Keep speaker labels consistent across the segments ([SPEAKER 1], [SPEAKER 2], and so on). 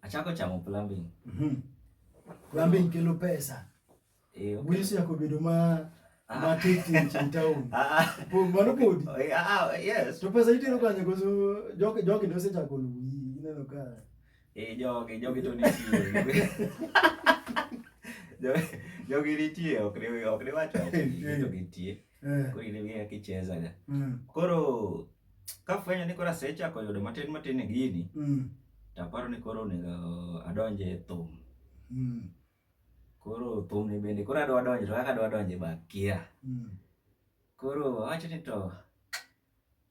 [SPEAKER 1] Achako chamo plumbing. Mhm. Plumbing kelo pesa. Eh, okay. Wisi yako bedo ma ah. ma titi in town. Ah, ah. Po mano podi. Eh, ah, ah, yes. To pesa itero kanye koso joke joke ndio secha ko lui. Ineno ka. Eh, joke joke to ni Joke joke ni tie ok ni ok ni wacho. Joke tie. Eh. Koro in ing'eyo kaka ichezaga. Mm. Koro kafwenyo ni koro asechako yudo matin matin e gini, Mm. taparo ni koro onego adonje e thum. Mm. Koro thum ni bende koro adwa donje to kaka adwa donje be akia. Mm. Koro awacho ni to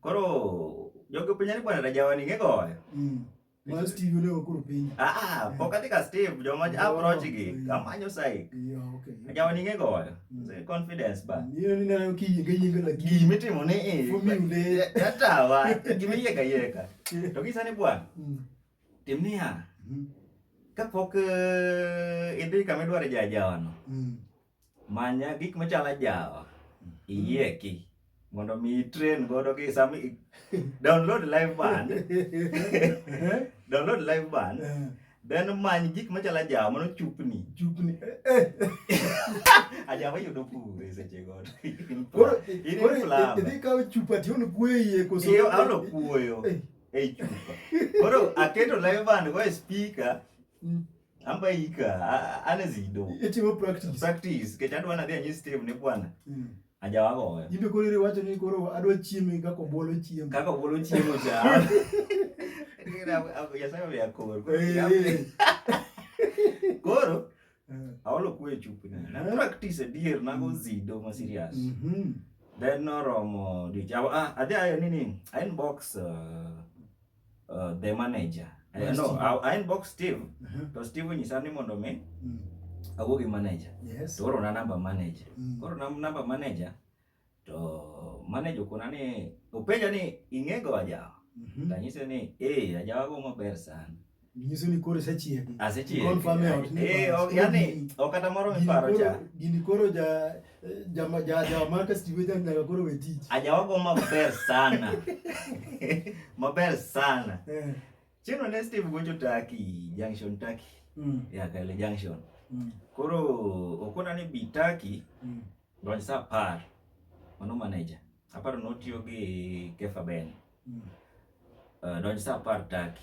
[SPEAKER 1] Koro jogo penja ni bwana Rajawa ni ngegoyo. Mm. Wal Steve ne okoro piny. Ah, ah eh. pok adhi ka Steve joma oh, approach gi kamanyo sai. Yeah, okay. Rajawa ni ngegoyo. Mm. Say confidence ba. Ni ni na ki yinga yinga la ki. Gimi timo ni eh. For me ne. Yatawa. Gimi yeka yeka. To kisa ni bwana. Mm. Timnia. Mm. Kapok eh, idhi kama idwaro jajawano. Mm. Manya gik machalo ajawa, iyieki mondo mi train godo gi sami download live band. download live band. Eh. Then many gik machalo ajawa mano chupni. Chupni. Eh, eh. ajawa yudo pure seche godo. Koro koro idhi kawo chupa ti ono kuoyo koso. Iyo ano kuoyo. Ei chupa. Koro aketo live band go e speaker. Mm. ambaika anezido etimo practice practice kech adwa nadhi anyi steve ne bwana mm. ajawagoyo imbe koro iriwacho ni koro adwa chieme kaka obolo chiemo kaka obolo chiemo cha yasaye oya kor koro aolo kwe chupi na practice adier nago zido ma serious mm -hmm. then noromo diocha ah, adhi ayo nini aen box uh, uh, the manager uh, yes, no I, I inbox Steve uh -huh. to Steve nyisa ni mondo mi mm. awuo gi manager yes. to oro na number manager mm. koro na number manager to manager kuna ni openja ni ing'ego ajawa mm -hmm. tanyise ni eh ajawa go maber sana Nyiso ni koro isechiegi. Asechiegi. Confirm e ot ni Eh, bas, ok, koro yani, gini- ok kata moro gini miparo koro- cha. Gini koro ja ja ma- ja ja maka stiwe ja nyaka koro we tich. Ajawago maber sana. maber sana. Eh. Chino ne Steve gocho Turkey, Junction Turkey. Mm. Ya kale Junction. Mm. Koro okona ni bi Turkey Mm. donj sa apar. Mano manager. Aparo notiyo gi Kefa Ben. Mm. Uh, donj sa apar Turkey.